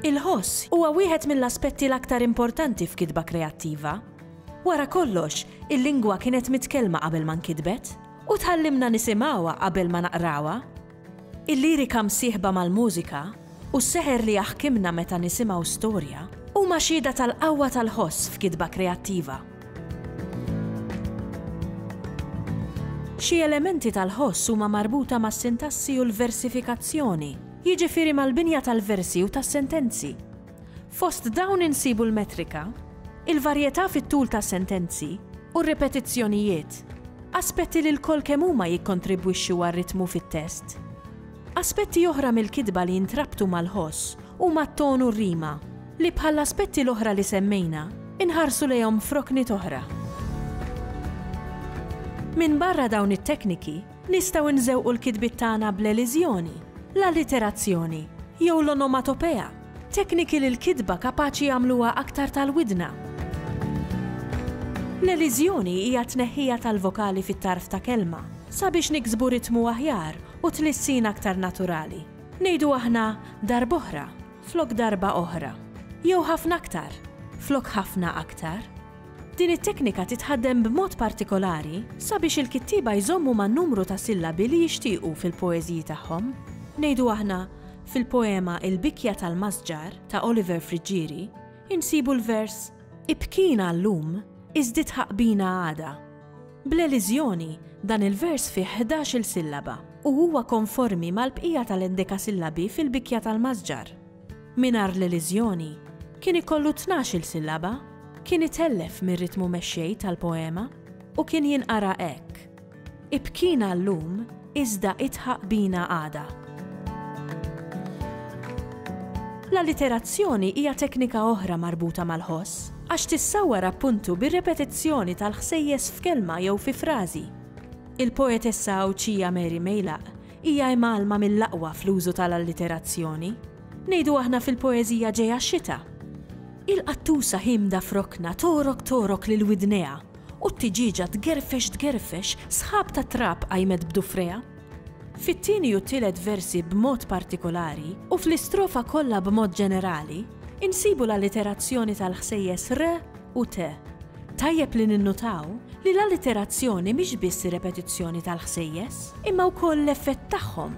Il-ħoss huwa wieħed mill-aspetti l-aktar importanti f'kitba kreattiva. Wara kollox, il-lingwa kienet mitkellma qabel ma nkitbet, u tgħallimna nisimgħuha qabel ma naqrawha. Il-lirika msieħba mal-mużika u s-seħer li jaħkimna meta nisimgħu storja huma xhieda tal-qawwa tal-ħoss f'kitba kreattiva. Xi elementi tal-ħoss huma marbuta mas-sintassi u l-versifikazzjoni, jiġifieri mal-binja tal-versi u tas-sentenzi. Fost dawn insibu l-metrika, il-varjetà fit-tul tas-sentenzi u r-ripetizzjonijiet, aspetti li lkoll kemm huma jikkontribwixxu għar-ritmu fit-test. Aspetti oħra mill-kitba li jintrabtu mal-ħoss huma t-ton u r-rima, li bħall-aspetti l-oħra li semmejna, inħarsu lejhom f'rokniet oħra. Minbarra dawn it-tekniki, Nistgħu nżewqu l-kitbiet tagħna bl-eliżjoni, l-alliterazzjoni, jew l-onomatopea, tekniki li l-kitba kapaċi jagħmluha aktar tal-widna. L-eliżjoni hija t-tneħħija tal-vokali fit-tarf ta' kelma sabiex niksbu ritmu aħjar u tlissin aktar naturali. Ngħidu aħna darb'oħra flok darba oħra, jew ħafna aktar flok ħafna aktar. Din it-teknika titħaddem b'mod partikolari sabiex il-kittieba jżommu man-numru ta' sillabi li jixtiequ fil-poeżiji tagħhom. Ngħidu aħna, fil-poema Il-bikja tal-masġar ta' Oliver Friggieri, insibu l-vers, Ibkina llum, iżdied ħaqbina għada. Bl-eliżjoni, dan il-vers fih ħdax-il sillaba u huwa konformi mal-bqija tal-endekasillabi fil-bikja tal-masġar. Mingħajr l-eliżjoni, kien ikollu tnax-il sillaba, kien itellef mir-ritmu mexxej tal-poema u kien jinqara hekk, Ibkina llum iżda idħaq bina għada. L-alliterazzjoni hija teknika oħra marbuta mal-ħoss, għax tissawwar appuntu bir-repetizzjoni tal-ħsejjes f'kelma jew fi frażi. Il-poetessa Għawdxija Mary Meilaq Hija imgħallma mill-aqwa fl-użu tal-alliterazzjoni. Ngħidu aħna fil-poeżija ġejha xita. Il-qattusa ħiemda f'rokna togħrok togħrok lil widnejha u t-tiġieġa tgerfex tgerfex sħab ta' trab qajmet b'dufrejha. Fit-tieni u t-tielet versi b'mod partikolari u fl-istrofa kollha b'mod ġenerali, insibu l-alliterazzjoni tal-ħsejjes r, u te. Tajjeb li ninnutaw li l-alliterazzjoni mhix biss ir-repetizzjoni tal-ħsejjes, imma wkoll l-effett tagħhom.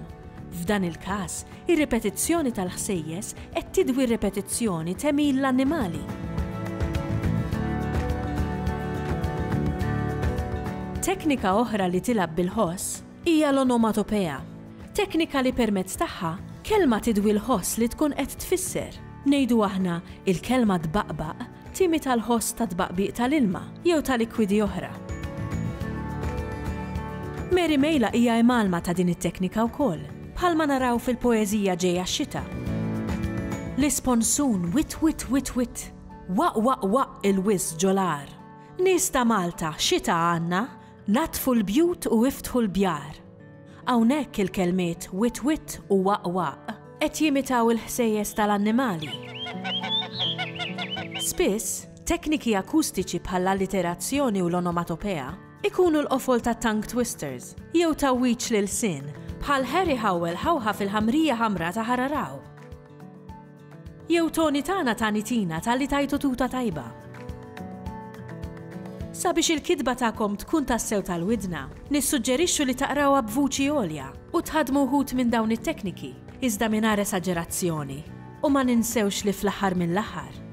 F'dan il-każ, ir-ripetizzjoni tal-ħsejjes qed tidwi r-repetizzjoni t'għemil l-annimali. Teknika oħra li tilgħab bil-ħoss hija l-onomatopea, teknika li permezz tagħha kelma tidwi l-ħoss li tkun qed tfisser. Ngħidu aħna, il-kelma tbaqbaq Timi tal-ħoss ta' tbaqbiq tal-ilma jew ta' likwidi oħra. Mary Mejla hija imgħallma ta' din it-teknika wkoll, bħalma naraw fil-poeżija Ġejja x-xita. L-isponsun wit wit wit wit, waq waq waq il-wiżż ġo l-għar. Nies ta' Malta, xita għandna? Naddfu l-bjut u iftħu l-bjar. Hawnhekk il-kelmiet witt witt u waqq waqq qed jimitaw il-ħsejjes tal-annimali. Spiss, tekniki akustiċi bħall-alliterazzjoni u l-onomatopea jkunu l-qofol ta' tongue twisters jew tgħawwiġ l-ilsien bħal Harry Howell ħawħaf il-ħamrija ħamra ta' Hararaw. Jew Toni tagħna tani tina talli tajtu tuta tajba. Sabiex il-kitba tagħkom tkun tassew tal-widna, nissuġġerixxu li taqrawha b'vuċi għolja u tħaddmu wħud minn dawn it-tekniki, iżda mingħajr esaġerazzjoni, u ma ninsewx li fl-aħħar mill-aħħar,